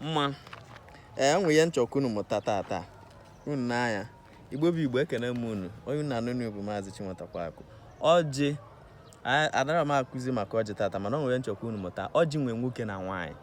mma o nwe ihe m chọ ka unu mụta tata unu n'anya igbo bụ igbo ekene m unu onye unu na-anụ onu bụ maazị chinwetakwa akụ ọjị adịrọ m akụzi maka ọjị tata mana o nwe ihe m chọ ka unu mụta ọjị nwee nwoke na nwaanyị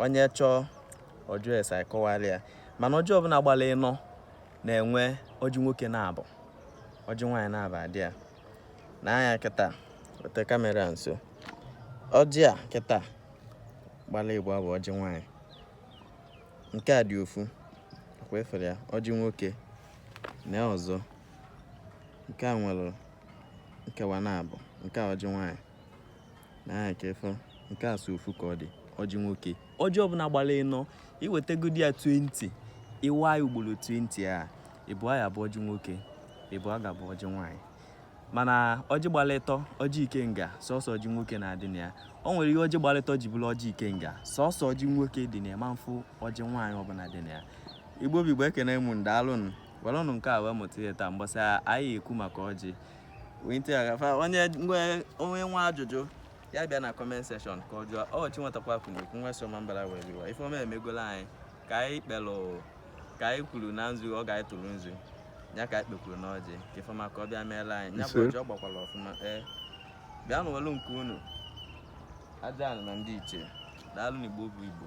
onye chọọ ọ jụọ ese akọwara ya mana ọjị ọbụla gbara ịnọ na-enwe ọjị nwoke naabọ ọjị nwaanyị naabọ adị ya nee anya kịta weta kamera nso ọjị a kịta gbala ịbụa bụ ọjị nwanyị nke a dị ofu ọkwa ị fụrụ ya ọjị nwoke nee ọzọ nke a nwere nkewa naabọ nke a ọjị nwanyị nee ka ị fụ nke a sọ ofu ka ọ dị ọjị nwoke ọjị ọbụla gbara ịnọ i wetagodi ya 20 ị waa ya ugboro 20 ịbụa bụ ọjị nwoke ịbụa ga-abụ ọjị nwaanyị mana ọjị gbalụ ịtọ ọjị ikenga sọsọ ọjị nwoke na-adị na ya o nwere ihe ọjị gbalụ ịtọ ji bụrụ ọjị ikenga sọsọ ọjị nwoke dị na ya ị ma-afụ ọjị nwaanyị ọbụla dị na ya igbo bụ igbo ekene m unu daalụnụ welụnụ nke a wee mụta ihe taa mgbe ọzọ anyị ekwu maka ọjị onye nwe ajụjụ ya bịa na comment section ka ọ jụọ ọ chinwetakwa akụ na-ekwu nwa so ma mbara were iwa ife ọma emegola anyị ka anyị kpelụ ka anyị kwuru na nzu oge anyị tụrụ nzu ya ka anyị kpekwuru n'ọjị ka ife ọma ka ọ bịa meela anyị ya bụ ọjị ọ gbakwara ọfụma ee eh, bịanụ welụ nke unu ajana na ndị ichie daalụnụ igbo bụ igbo